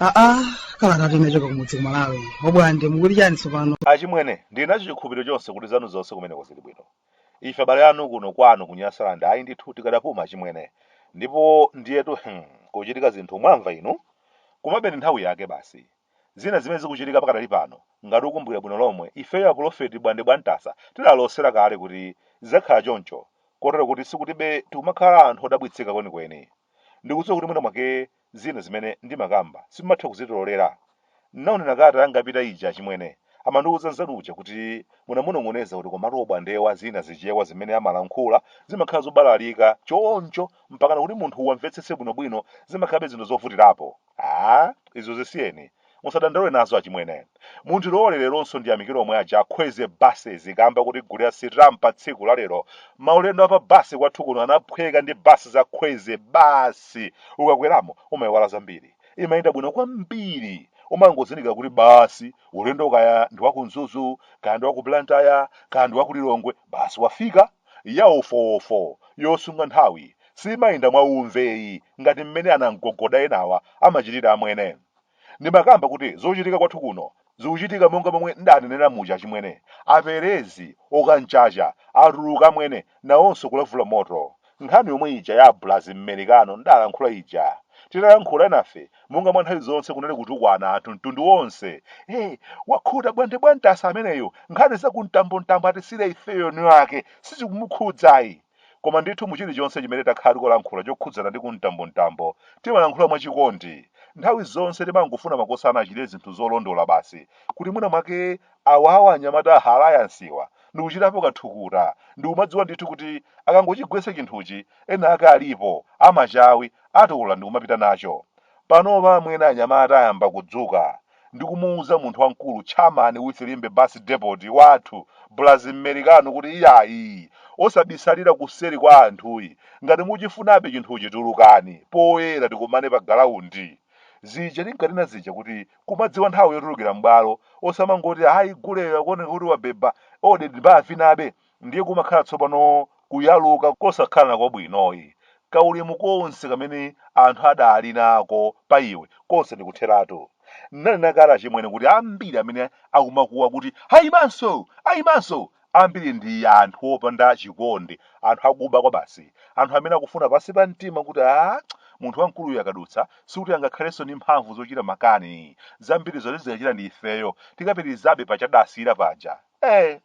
aa kalanga tinachoka kumudzi kumalawi obwande mukuti chiyani tsopano achimwene ndili nacho chikhulupiriro chonse kuti zanu zonse kumeneko zili bwino ife abale anu kuno kwanu kunyasaland ayi ndithu tikadapuma achimwene ndipo ndiyetu hmm, kuchitika zinthu mwamva inu kumabeni nthawi yake basi Zina zimene zikuchitika pakadali pano, ngati ukumbukira bwino lomwe, ifeyo apulofeti Bwande Bwamtasa tidalosera kale kuti zidzakhala choncho, kotero kuti sikutibe tikumakhala anthu odabwitsika kwenikweni. Ndikudziwa kuti mwina mwake zina zimene ndimakamba simumatha kuzitilolera. Ndinaonera kalata yangapita ija achimwene amandiuza nzanu uja kuti munamunong'oneza kuti komatu obwandewa zina zichewa zimene amalankhula zimakhala zobalalika choncho mpakana kuti munthu uwamvetsetse bwinobwino zimakhalabe zinthu zovutirapo. Aaa izo zisiyeni. Musadandaule nazo achimwene. Mundilole leronso ndiyamikire omwe aja a Kwezy buses kamba kotigulira sitampa patsiku la lero. Maulendo a pa bus kwathu kuno anaphweka ndi bus za Kwezy basi. Ukakweramo umaiwala zambiri. Imayenda bwino kwambiri. Umangozindikira kuti basi ulendo kaya ndi wa ku Mzuzu, kaya ndi wa ku Blantyre, kaya ndi wa ku Lilongwe. Basi wafika, ya wofowofo, yosunga nthawi, simayenda mwa umve ayi ngati mmene anamgogoda enawa amachitira amwene. Ndimakamba kuti zochitika kwathu kuno zikuchitika monga momwe ndidanenera muja achimwene. Aprezi, okanchacha, atuluka amwene, nawonso kulavula moto. Nkhani yomwe ija ya Abulazi Mmerikano ndalankhula ija, titalankhula enafe monga mwa nthawi zonse kunali kutukwana anthu mtundu wonse, ee, wakhuta Bwande Bwamtasa ameneyu, nkhani za ku mtambo mtambo atisiyire ifeyo eni ake sizikumukhudza ayi. Koma ndithu mu chilichonse chimene takhala tikulankhula chokhudzana ndi ku mtambo mtambo, timalankhula mwa chikondi. Nthawi zonse timangofuna makosana achite zinthu zolondola basi kuti mwina mwake Awawa anyamata a Alliance'wa ndikuchitapo ka thukuta ndikumadziwa ndithu kuti akangochigwetsa chinthuchi ena ake alipo, amachawi, atola ndikumapita nacho. Panopa amwene anyamata ayamba kudzuka ndikumuuza munthu wamkulu Chairman wa ku Limbe Bus Depot wathu Braz Mmelikano kuti iyayi osabisalira kuseli kwa anthu ayi ngati mukuchifunabe chinthuchi tulukani poyera tikumane pa galaundi zija tinkanena zija kuti kumadziwa nthawi yotulukira m'bwalo osamangoti ayi guleyo akuoneka kuti wabeba ode ndi ndivinabe ndiye kumakhala tsopano kuyaluka kosakhalanso kwabwino ayi kaulemu konse kamene anthu adali nako pa iwe konse ndikutheratu nanena kale achimwene kuti ambiri amene akumakuwa kuti ayimanso ayimanso Ambiri ndi anthu opanda chikondi, anthu akuba kwabasi, anthu amene akufuna pansi pa mtima kuti a munthu wamkuluyu akadutsa sikuti angakhalenso ndi mphamvu zochita makani, zambiri zoti zikachita ndi ifeyo tikapitirizabe paja adasiyira paja. Ee!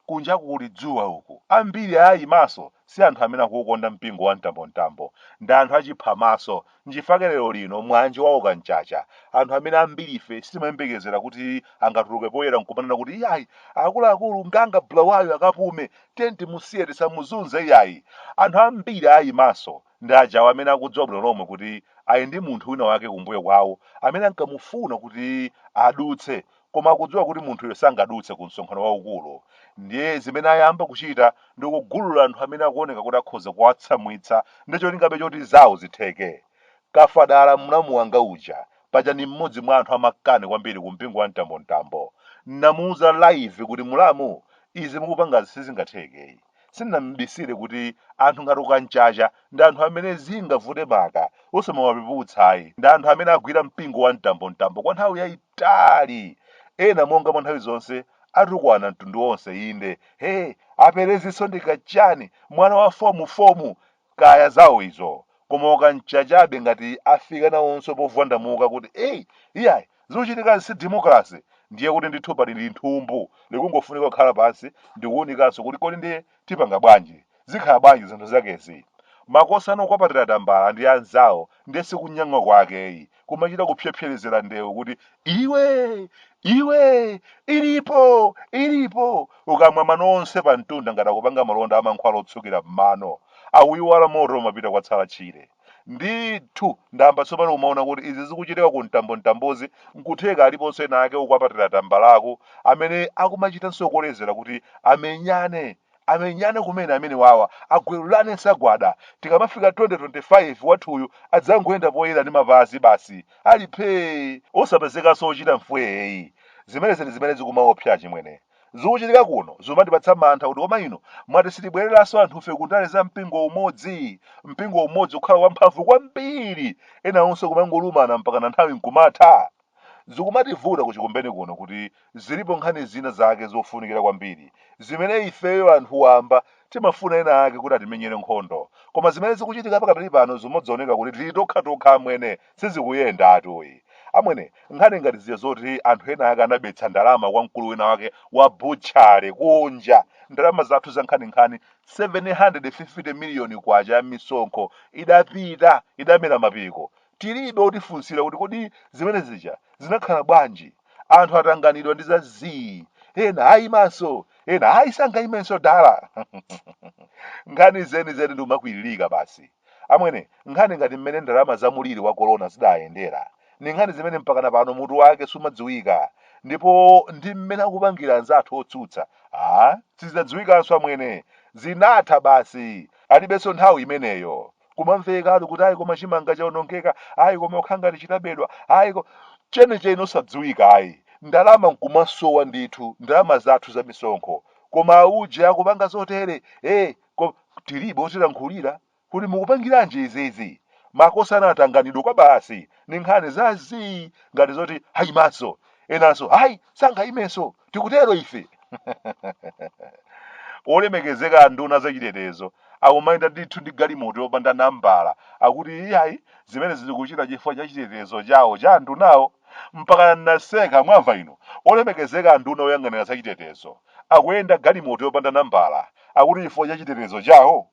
Kunjaku kuli dzuwa uku, ambiri aayimanso si anthu amene akuukonda mpingo wa mtambomtambo, ndi anthu achiphamaso, Nchifake lero lino mwanji waoka mchacha, anthu amene ambirife sitimayembekezera kuti angatuluke poyera nkumanena kuti iyayi akuluakulu nganga Bulawayo akapume, tiyeni timusiye tisamuzunze iyayi. Anthu ambiri ayimanso ndi ajawa amene akudziwa bwino lomwe kuti ali ndi munthu wina wake kumbuyo kwawo amene ankamufuna kuti adutse koma akudziwa kuti munthuyo sangadutse ku msonkhano waukulu ndiye zimene ayamba kuchita ndi kugulula anthu amene akuoneka kuti akhoza kuwatsamwitsa ndi cholingabe choti zawo zitheke kafadala mlamu wanga uja paja ni mmodzi mwa anthu amakani kwambiri ku mpingo wa mtambomtambo namuuza live kuti mulamu izi mukupangazi sizingathekeyi sindinam'bisire kuti anthu ngati ukamchacha ndi anthu amene zingavute maka osamawapeputsayi ndi anthu amene agwira mpingo wa mtambomtambo kwa nthawi yayitali tali. Ena, monga mwa nthawi zonse, atukwana mtundu wonse inde. He, aperezinso ndi kachani, mwana wa fomu fomu! Kaya zawo izo. Koma ukamchachabe ngati afika nawonso povwandamuka kuti ei, iyayi, zikuchitikazi si democracy, ndiye kuti ndithu pali linthumbu likungofunika kukhala pansi ndi kuunikanso kuti kodi ndiye Tipanga bwanji? Zikhala bwanji zinthu zakezi? Makosana okwapatira tambala ndi anzawo ndiye si kunyang'wa kwake yi, kumachita kupsepserezera ndewu kuti, Iwe! Iwe! Ilipo! Ilipo! Kukamwa mano onse pamtunda ngati akupanga malonda a mankhwala otsukira m'mano. Akuiwala moto umapita kwatsala tchire. Ndithu, ndayamba tsopano kumaona kuti izi zikuchitika ku mtambomtambozi nkutheka aliponso ena ake okwapatira tambalaku amene akumachitanso kolezera kuti amenyane amenyane kumene amenewawa agwelulane nsagwada tikamafika 2025 wathuyu adzangoyenda poyera ndi mapazi basi ali phee osapezekanso ochita mfweeyi zimenezi ndi zimene zikumaopsa achimwene Zikuchitika kuno zumandipatsa mantha kuti koma inu mwati sitibwereranso anthufe ku ndale za mpingo umodzi? Mpingo umodzi kukhala wamphamvu kwambiri ena onse kumangolumana mpakana nthawi nkumatha? Zikumativuta ku Chikumbeni kuno kuti zilipo nkhani zina zake zofunikira kwambiri zimene ifeyo anthu wamba timafuna ena ake kuti atimenyere nkhondo. Koma zimene zikuchitika pakadali pano zumadzoneka kuti tili tokhatokha amwene. Sizikuyenda atu ayi. Amwene, nkhani ngati zija zoti anthu ena ake anabetsa ndalama kwa mkulu wina wake wa butchery kunja, ndalama zathu zankhaninkhani, K750 miliyoni ya misonkho idapita, idamera mapiko. Tilibe otifunsira kuti kodi zimene zija zinakhala bwanji? Anthu atanganidwa ndi za zii. Ena aimanso, ena ayi sangaimenso dala. Nkhani zenizeni nkumakwiririka basi. Amwene, nkhani ngati mmene ndalama za muliri wa kolona zidayendera, ndi nkhani zimene mpakana pano mutu wake sumadziwika, ndipo ndi mmene akupangira anzathu otsutsa, aah, sizidzadziwikanso amwene, zinatha basi, alibenso nthawi imeneyo. Kumamvekatu kuti ayi koma chimanga chaonongeka, ayi koma kukhala ngati chinabedwa, ayi koma chenicheni osadziwika ayi, ndalama nkumasowa ndithu, ndalama zathu za misonkho, koma auje akupanga zotere, eeh. Ko, tilibe otilankhulira kuti mukupangiranji izizi? Makosana atanganidwa kwabasi ni nkhani za zii ngati zoti ayimanso enanso ayi sangayimenso tikutero ife olemekezeka anduna zachitetezo akumayenda ndithu ndi galimoto yopanda nambala akuti iyayi zimenezi akuchita chifukwa cha chitetezo chawo cha andunawo mpaka naseka mwamva inu olemekezeka anduna oyang'anira zachitetezo akuyenda galimoto yopanda nambala akuti chifukwa cha chitetezo chawo?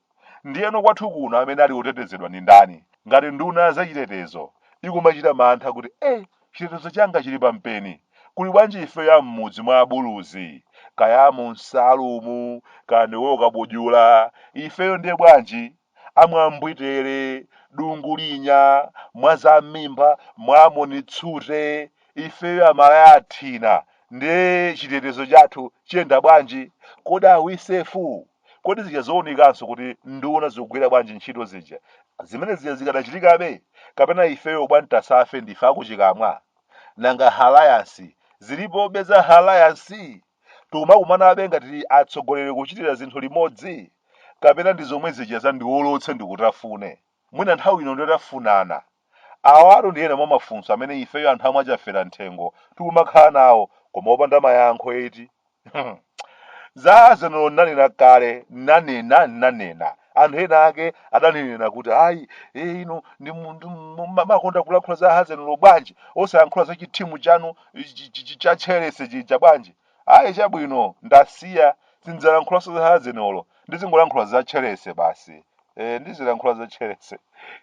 Ndiyeno kwathu kuno amene ali otetezedwa ndi ndani ngati nduna ya zachitetezo ikumachita mantha kuti eh, chitetezo changa chili pampeni? Kuli bwanji ifeyo a m'mudzi mwa abuluzi, kaya a mu msalumu, kaya ndi Kokabudula, ifeyo ndiye bwanji? a Mwambwitele, Dungulinya, Mwazammimba, Mwamoni Tsute, ifeyo amalaya athina ndiye chitetezo chathu chiyenda bwanji? Kodi are we safe? Kodi zija zounikanso kuti nduna zikugwira bwanji ntchito zija, zimene zija zikadachitikabe? Kapena ifeyo bwanji tisafe ndife akuchikamwa? Nanga Alliance zilipobe za Alliance? tikumakumanabe ngati atsogoleri kuchitira zinthu limodzi? kapena ndi zomwe zija za ndiolotse ndikutafune? mwina nthawi ino ndi tafunana. Awatu ndi ena mwa mafunso amene ifeyo anthu a mwa Chaferanthengo tikumakhala nawo koma opanda mayankho eti? Za Arsenal nnanena kale, nnanena, nnanena. Anthu ena ake adandinena kuti ayi, ee inu ndi munthu mumakonda kulankhula za Arsenal bwanji osayankhula za chithimu chanu chi- chi- chi- cha chelese chija bwanji ayi chabwino ndasiya sindidzalankhulaso za hazenolo ndizingolankhula za chelese basi e, ndizilankhula za chelese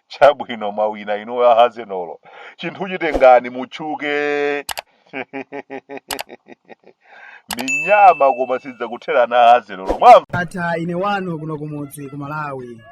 chabwino mwawina inu a hazenolo chinthucho tengani mutchuke minyama koma sidzakutherani hazenolo mwamva ndatha ine wanu kuno kumudzi ku malawi